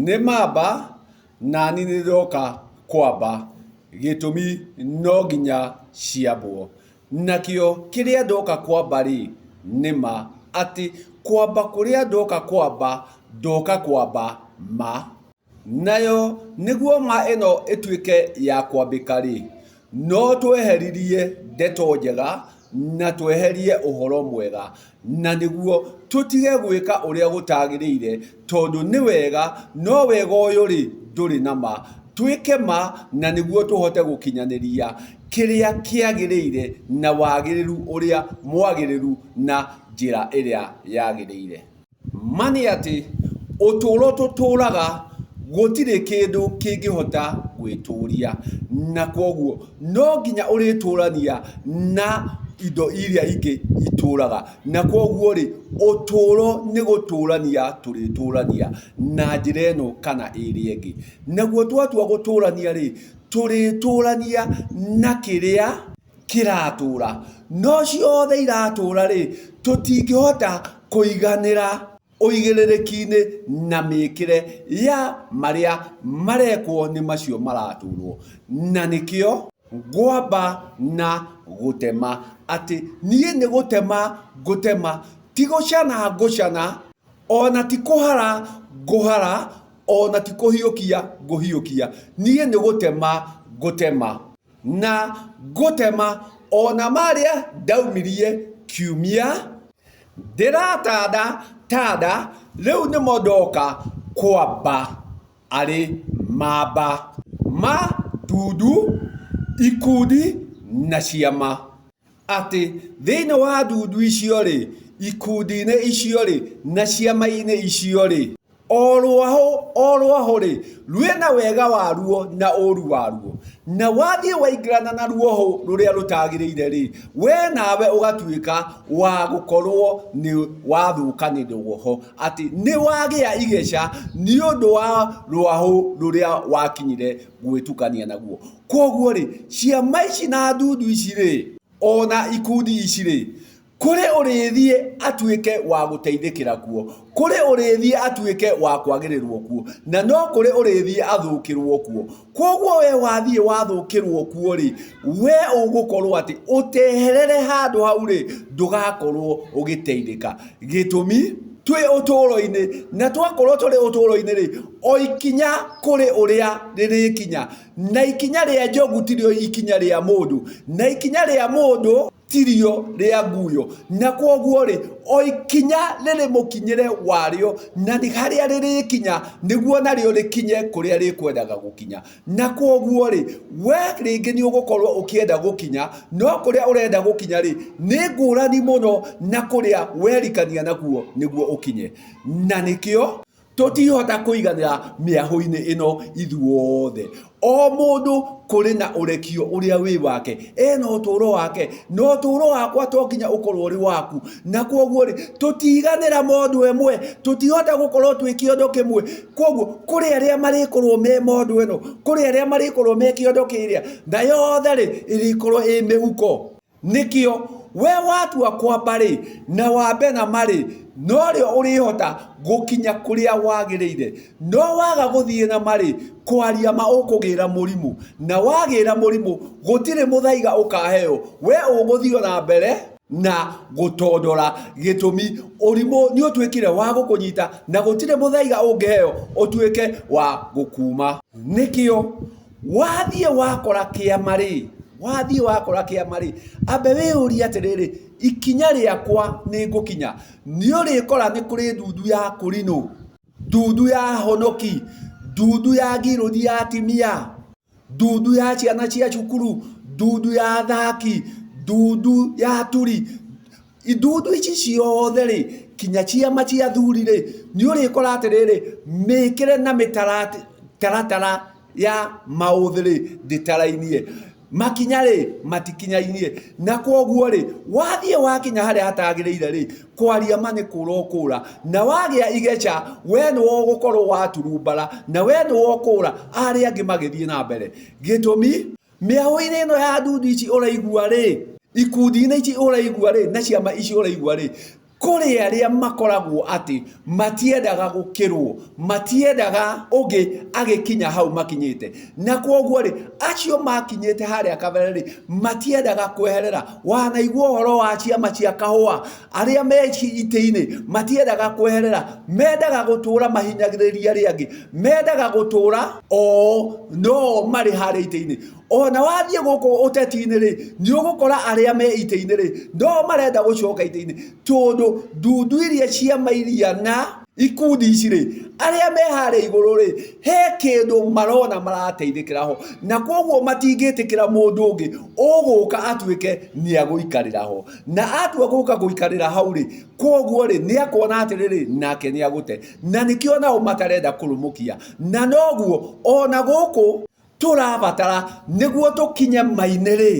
Nĩ mamba nani nĩndĩroka kwamba, gĩtũmi no nginya ciambwo. Nakĩo kĩrĩa ndoka kwamba-rĩ, nĩ ma, atĩ kwamba kũrĩa ndoka kwamba, ndoka kwamba ma. Nayo nĩguo ma ĩno ĩtuĩke ya kwambĩka-rĩ, No tweheririe ndeto njega na tweherie ũhoro mwega, na nĩguo tũtige gwĩka ũrĩa gũtagĩrĩire, tondũ nĩ wega, no wega ũyũ-rĩ, ndũrĩ na ma. Twĩke ma na nĩguo tũhote gũkinyanĩria kĩrĩa kĩagĩrĩire na wagĩrĩru ũrĩa mwagĩrĩru na njĩra ĩrĩa yagĩrĩire. Ma nĩ atĩ, ũtũũro tũtũũraga gũtirĩ kĩndũ kĩngĩhota gwĩtũũria, na kwoguo no nginya ũrĩtũũrania na indo iria ingĩ itũũraga. Na kwoguo-rĩ, ũtũũro nĩ gũtũũrania tũrĩtũũrania na njĩra ĩno kana ĩrĩa ĩngĩ. Naguo twatua gũtũũrania-rĩ, tũrĩtũũrania na kĩrĩa... kĩratũũra, no ciothe iratũũra-rĩ, tũtingĩhota kũiganĩra ũigĩrĩrĩki-inĩ na mĩkĩre ya marĩa marekwo nĩ macio maratũũrwo, na nĩkĩo ngwamba na gũtema, atĩ niĩ nĩ gũtema ngũtema, ti gũcana ngũcana, o na ti kũhara ngũhara, o na ti kũhiũkia ngũhiũkia, niĩ nĩ gũtema ngũtema. Na ngũtema o na marĩa ndaumirie kiumia. Ndĩratanda tanda rĩu nĩmo ndoka kwamba arĩ mamba ma ndundu, ikundi na ciama. atĩ thĩinĩ wa ndundu icio-rĩ, ikundi-inĩ icio-rĩ, na ciama-inĩ icio-rĩ, o rwahũ o rwahũ-rĩ, rwĩna wega waruo na ũũru waruo, na wathiĩ waingĩrana na ruohũ rũrĩa rũtagĩrĩire-rĩ, we nawe ũgatuĩka wa gũkorwo nĩ wathũka nĩ rwoho, atĩ nĩwagĩa igĩca nĩ ũndũ wa rwahũ rũrĩa wakinyire gwĩtukania naguo. Kwoguo rĩ, ciama ici na ndundu ici rĩ, ona ikundi ici rĩ, kũrĩ ũrĩthiĩ atuĩke wa gũteithĩkĩra kuo, kũrĩ ũrĩthiĩ atuĩke wa kwagĩrĩrwo kuo, na no kũrĩ ũrĩthiĩ athũkĩrwo kuo. Kwoguo we wathiĩ wathũkĩrwo kuo rĩ, we ũgũkorwo atĩ ũteherere handũ hau rĩ, ndũgakorwo ũgĩteithĩka. Gĩtũmi, twĩ ũtũũro-inĩ, na twakorwo tũrĩ ũtũũro-inĩ rĩ, o ikinya kũrĩ ũrĩa rĩrĩkinya, na ikinya rĩa njogu tirĩo ikinya rĩa mũndũ, na ikinya rĩa mũndũ tirĩo rĩa nguyo, na kwoguo rĩ, o ikinya rĩrĩ mũkinyĩre warĩo, na harĩa rĩrĩkinya, nĩguo narĩo rĩkinye kũrĩa rĩkwendaga gũkinya. Na kwoguo-rĩ, wee rĩngĩ nĩ ũgũkorũo ũkĩenda gũkinya, no kũrĩa ũrenda gũkinya-rĩ, nĩ ngũrani mũno na kũrĩa werikania nakuo nĩguo ũkinye. Na nĩkĩo tũtiihota kũiganĩra mĩahũ-inĩ ĩno ithuothe. O mũndũ kũrĩ na ũrekio ũrĩa wĩ wake. Ena ũtũũro wake. Na ũtũũro wakwa to nginya ũkorũo ũrĩ waku. Na kwoguo-rĩ, tũtiiganĩra mũndũ ĩmwe. Tũtiihota gũkorũo twĩ kĩondo kĩmwe. Kwoguo kũrĩ arĩa marĩkorwo me mondo ĩno, kũrĩ arĩa marĩkorwo me kĩondo kĩrĩa, na yothe rĩ, ĩrĩkorwo ĩ mĩhuko. Nĩkĩo we watua kwamba rĩ, na wambe na ma rĩ, no rĩo ũrĩhota gũkinya kũrĩa wagĩrĩire. No waga gũthiĩ na ma rĩ, kwaria ma ũkũgĩra mũrimũ. Na wagĩra mũrimũ, gũtirĩ mũthaiga ũkaheo. We ũgũthiĩ o na mbere. na gũtondora gĩtũmi ũrimũ nĩ ũtuĩkire wa gũkũnyita na gũtirĩ mũthaiga ũngĩheo ũtuĩke wa gũkuuma nĩkĩo wathiĩ wakora kĩama rĩ wathiĩ wakora kĩama rĩ ambe wĩyũrie atĩrĩrĩ ikinya rĩakwa nĩ ngũkinya nĩ ũrĩkora nĩ kũrĩ ndundu ya kũrinũ ndundu ya honoki ndundu ya ngirũthi ya atimia ndundu ya ciana cia cukuru, ndundu ya athaki, ndundu ya aturi, ndundu ici ciothe rĩ, nginya ciama cia athuri rĩ, nĩ ũrĩkora atĩrĩrĩ, mĩkĩre na mĩtaratara ya maũthĩ rĩ, ndĩtarainie. Makinya rĩ, matikinyaine. Na kwoguo rĩ, wathiĩ wakinya harĩa hatagĩrĩire rĩ, kwaria ma nĩ kũũra ũkũũra na wagĩa igeca we nĩwe ũgũkorwo waturumbara na we nĩwe ũkũũra arĩa angĩ magĩthiĩ na mbere gĩtũmi mĩahũ-inĩ ĩno ya ndundu ici ũraigua rĩ ikundi-inĩ ici ũraigua rĩ na ciama ici ũraigua rĩ kũrĩ arĩa makoragwo atĩ matiendaga gũkĩrwo matiendaga ũngĩ agĩkinya hau makinyĩte na kwoguo rĩ acio makinyĩte harĩa kabere rĩ matiendaga kweherera wanaigua ũhoro wa ciama cia kahũa arĩa me itĩ-inĩ matiendaga kweherera mendaga gũtũra mahinyagĩrĩria arĩa angĩ mendaga gũtũra oo no marĩ harĩa itĩ-inĩ ona wathiĩ gũkũ ũteti-inĩ rĩ nĩ ũgũkora arĩa me itĩ-inĩ rĩ no marenda gũcoka itĩ-inĩ tondũ ndundu iria ciama iria na Ikundi ici rĩ, arĩa me harĩa igũrũ rĩ, he kĩndũ marona marateithĩkĩra ho, na koguo matingĩtĩkĩra mũndũ ũngĩ ũgũka atuĩke nĩ agũikarĩra ho. Na atua gũka gũikarĩra hau rĩ, koguo rĩ, nĩ akuona atĩrĩrĩ, nake nĩ agũte. Na nĩkĩo nao matarenda kũrũmũkia. Na noguo, ona gũkũ tũrabatara nĩguo tũkinye Maine-rĩ,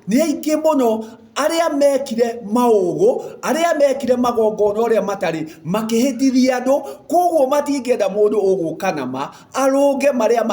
nĩ aingĩ mũno arĩa mekire maũgũ, arĩa mekire magongona ũrĩa matarĩ, makĩhĩtithia andũ, koguo matingĩenda mũndũ ũgũka na ma, arũnge marĩa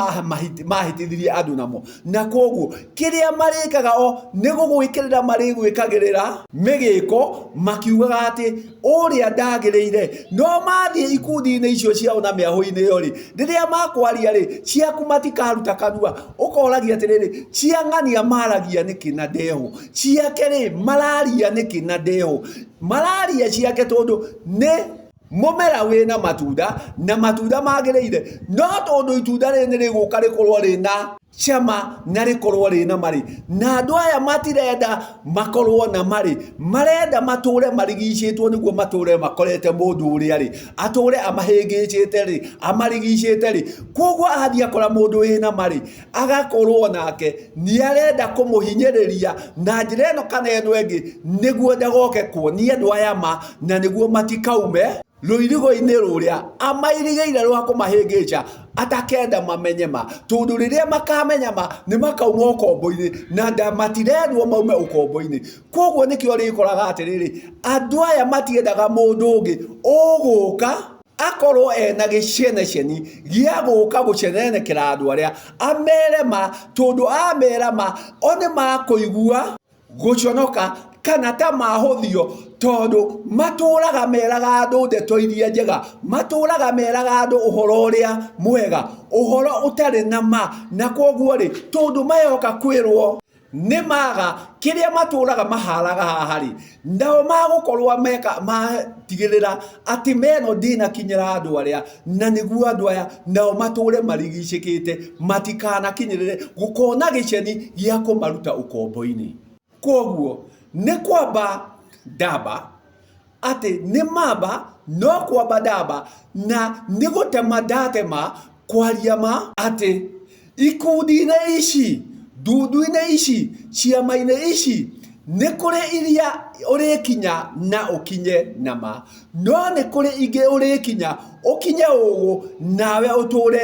mahĩtithirie andũ namo. Na koguo, kĩrĩa marĩkaga o, nĩ gũgwĩkĩrĩra marĩgwĩkagĩrĩra mĩgĩko, makiugaga atĩ... ũrĩa ndagĩrĩire. No mathiĩ ikundi-inĩ icio ciao na mĩahũ-inĩ ĩyo rĩ, rĩrĩa makwaria rĩ, ciaku matikaruta kanua. Ũkoragia atĩrĩrĩ, cia ng'ania maragia nĩkĩ na ndeho, ciake rĩ, mararia nĩkĩ na ndeho. Mararia ciake tondũ nĩ mũmera wĩna matunda na matunda magĩrĩire, no tondũ itunda rĩrĩ nĩ rĩgũka rĩkorwo rĩna... cama na rĩkorwo rĩna marĩ na andũ aya matirenda makorwo na marĩ marenda matũre marigicĩtwo nĩguo matũre makorete mũndũ ũrĩa rĩ atũre amahĩngĩcĩte rĩ amarigicĩte rĩ koguo athiĩ akora mũndũ wĩna marĩ agakorwo nake nĩ arenda kũmũhinyĩrĩria na njĩra ĩno kana ĩno ĩngĩ nĩguo ndagoke kuonia andũ aya ma na nĩguo matikaume rũirigo-inĩ rũrĩa amairigĩire rwa kũmahĩngĩca, atakenda mamenye ma, tondũ rĩrĩa makamenya ma nĩ makauma ũkombo-inĩ na nda matirendwo maume ũkombo-inĩ. Koguo nĩkĩo ũrĩkoraga atĩrĩrĩ, andũ aya matiendaga mũndũ ũngĩ ũgũka akorwo ena gĩceneceni gĩa gũka gũcenenekera andũ arĩa, amere ma, tondũ amera ma, o nĩ makũigua. gũconoka kana ta mahũthio tondũ matũũraga meraga andũ ndeto iria njega matũũraga meraga andũ ũhoro ũrĩa mwega ũhoro ũtarĩ na ma na kwoguo rĩ tondũ mayoka kwĩrwo nĩ maga kĩrĩa matũũraga maharaga haha rĩ nao magũkorwo meka matigĩrĩra Atĩ meno ndĩnakinyĩra andũ arĩa, na nĩguo andũ aya nao matũũre marigicĩkĩte, matikanakinyĩrĩre, gũkona gĩceni gĩa kũmaruta ũkombo-inĩ. Kwoguo nĩ kwamba ndamba, atĩ nĩ mamba, no kwamba ndamba, na nĩ gũtema ndatema, Kwaria ma, atĩ ikundi-inĩ ici, ndundu-inĩ ici, ciama-inĩ ici, nĩ kũrĩ iria ũrĩkinya na ũkinye na ma, no nĩ kũrĩ ingĩ ũrĩkinya ũkinye ũgũ nawe ũtũre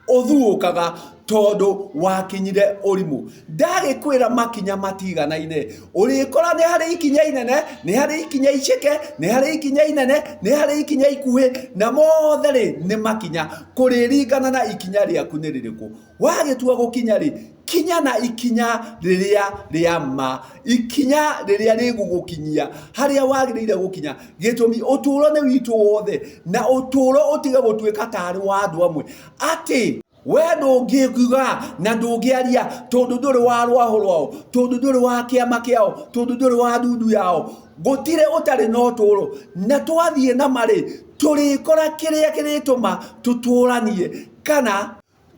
ũthuũkaga tondũ wakinyire ũrimũ. Ndagĩkwĩra makinya matiganaine. Ũrĩkora nĩ harĩ ikinya inene, nĩ harĩ ikinya iceke, nĩ harĩ ikinya inene, nĩ harĩ ikinya ikuhĩ, na mothe rĩ nĩ makinya, kũrĩringana na ikinya rĩaku nĩ rĩrĩkũ. Wagĩtua gũkinya rĩ, kinya na ikinya rĩrĩa rĩa ma, ikinya rĩrĩa rĩgũgũkinyia harĩa wagĩrĩire gũkinya, gĩtũmi ũtũũro nĩ witũ wothe, na ũtũũro ũtige gũtuĩka ta arĩ wa andũ amwe, atĩ. we ndũngĩkiuga na ndũngĩaria tondũ ndũrĩ wa rwaho rwao tondũ ndũrĩ wa kĩama kĩao tondũ ndũrĩ wa ndundu yao gũtirĩ ũtarĩ na ũtũũro na twathiĩ na marĩ tũrĩkora kĩrĩa kĩrĩtũma tũtũũranie kana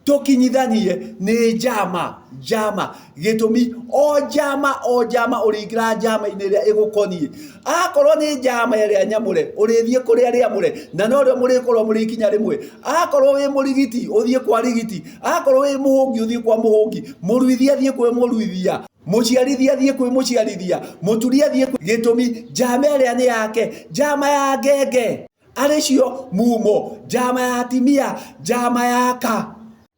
tũkinyithanie nĩ njama njama gĩtũmi o njama o njama ũrĩingĩra njama-inĩ ĩrĩa ĩgũkoniĩ akorwo nĩ njama ĩrĩa nyamũre ũrĩthiĩ kũrĩ arĩa amũre na no rĩo mũrĩkorwo mũrĩkinya rĩmwe akorwo wĩ mũrigiti ũthiĩ kwa rigiti akorwo wĩ mũhũngi ũthiĩ kwa mũhũngi mũruithia thiĩ kwĩ mũruithia muciarithia thiä kwä må ciarithia må turia thiä gä tå mi njama ä rä a nä yake njama ya ngenge arä cio mumo njama ya timia njama ya ka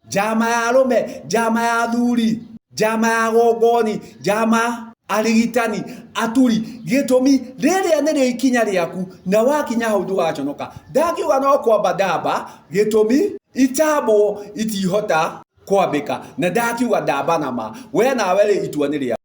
njama ya arũme njama ya athuri njama ya gongoni njama arigitani aturi gĩtũmi rĩrĩa nĩrĩo ikinya rĩaku na wakinya hau ndũgaconoka ndakiuga no kwamba ndamba gĩtũmi itambwo itihota kwambĩka na ndakiuga ndamba nama we nawe rĩ itua nĩ rĩa